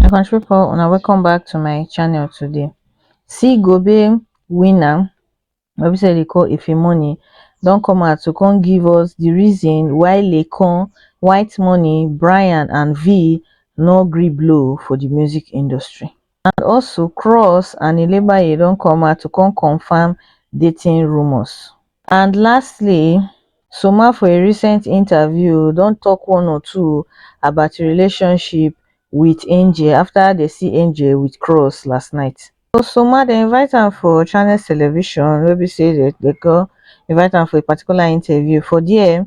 my country people una welcome back to my channel today see gobe winner wey be say dey call ife money don come out to come give us the reason why lecon white money brian and v no gree blow for the music industry and also kroos and elebaye don come out to come confam dating rumours and lastly soomah for a recent interview don tok one or two about im relationship wit angel afta dem see angel wit kroos last night so soomah dem invite am for channels television wey be say dem dem kon invite am for a particular interview for dia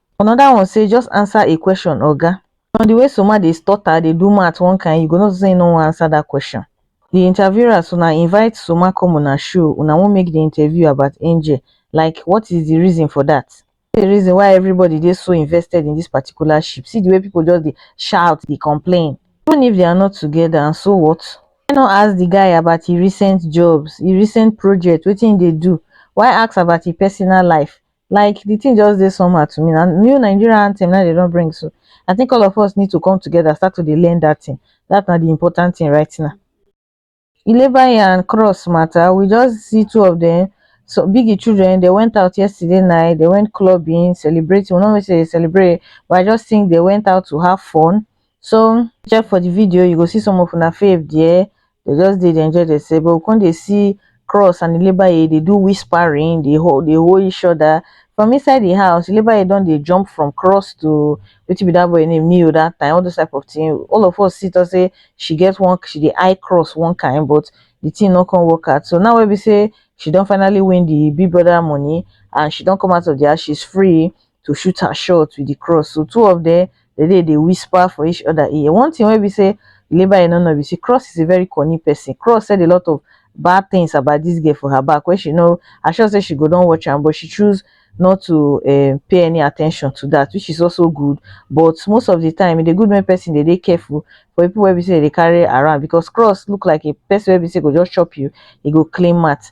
Another one say just answer a question oga. From the way Soma dey stutter, dey do math one kind, you go know say he no wan answer that question. The interviewers una invite Soma come una show, una wan make the interview about Angel, like what is the reason for that? Wetin be the reason why everybody dey so invested in this particular ship? See the way people just dey shout, dey complain. Even if they are not together and so what? Why not ask the guy about his recent jobs, his recent projects, wetin he dey do? Why ask about his personal life? like the thing just dey somehow to me na new Nigeria anthem na they don bring so I think all of us need to come together start to dey learn that thing that na the important thing right now Ilebayi and Cross matter we just see two of them so Biggie children they went out yesterday night they went clubbing celebrating we no know wetin they celebrate but I just think they went out to have fun so check for the video you go see some of una fave there they just dey dey enjoy themselves but we come dey see cross and ilebaye dey do whispering dey hold dey hold each other from inside the house ilebaye don dey jump from cross to wetin be that boy name neo that time all those type of thing all of us see talk say she get one she dey eye cross one kind but the thing no come work out so now wey be say she don finally win the big brother money and she don come out of the house she's free to shoot her shot with the cross so two of them they dey dey whisper for each other ear one thing wey be say labour e no know be say cross is a very cunning person cross said a lot of bad things about this girl for her back wey she know i sure say she go don watch am but she choose not to um, pay any attention to that which is also good but most of the time e dey good make person dey dey careful for people wey be say dey carry around because cross look like a person wey be say go just chop you e go clean mat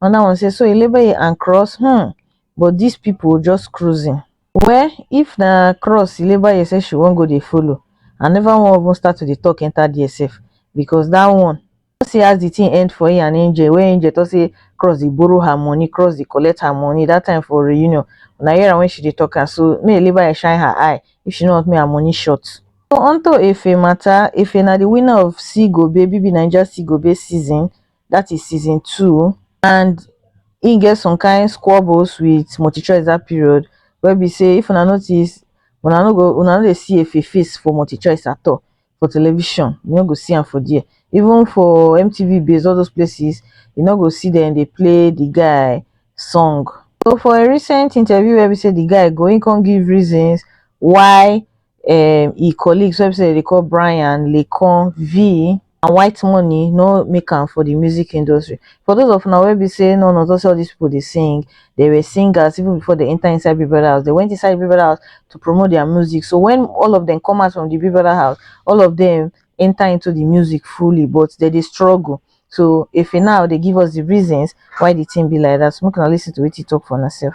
another one say so elebeye and cross um but this people just cruising. Well if na cross elebeye say she wan go dey follow i never wan even start to dey talk enter there sef because that one you see as the thing end for him and angel wey angel talk say cross dey borrow her money cross dey collect her money that time for reunion una hear am when she dey talk am so make elebeye shine her eye if she no want make her money short. So onto efe matter efe na the winner of see gobe bbnaija see gobe season that is season two and e get some kind squabbles with multichoice that period wey be say if una notice una no go una no dey see efe face for multichoice at all for television you no go see am for there even for mtv base all those places you no go see dem dey play the guy song so for a recent interview wey be say the guy go he come give reasons why um e colleagues wey be say dem dey call Brian, Laycon, Vee and White Money no make am for the music industry. For those of una wey be say no know say all these people dey sing, they were singers even before they enter inside Big Brother house. They went inside Big Brother house to promote their music. So when all of them come out from the Big Brother house, all of them enter into the music fully, but they dey struggle. So if now they give us the reasons why the thing be like that, so make una listen to what he talk for herself.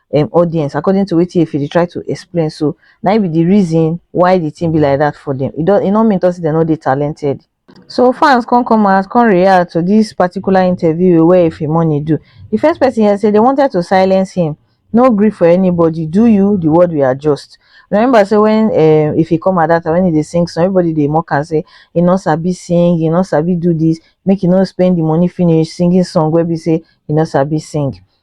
um audience according to wetin Efe dey try to explain so na im be the reason why the thing be like that for them e don e no mean talk say dem no dey talented so fans come come out come react to this particular interview wey Efe Money do the first person here say they wanted to silence him no gree for anybody do you the world will adjust remember say when um Efe come at that time when he dey sing song everybody dey mock am say he no sabi sing he no sabi do this make he no spend the money finish singing song wey be say he no sabi sing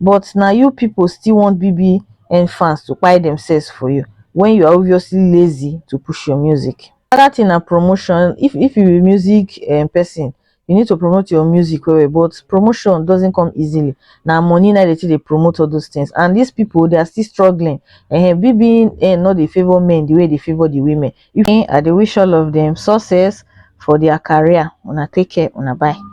but na you people still want bbn fans to kpai themselves for you when you are obviously lazy to push your music. Another thing na promotion, if if you be music um person, you need to promote your music well well but promotion doesn't come easily, na money na dey take dey promote all those things and these people they are still struggling um bbn no dey favour men the way they favour the women. I dey wish all of them success for their career, una take care, una bye.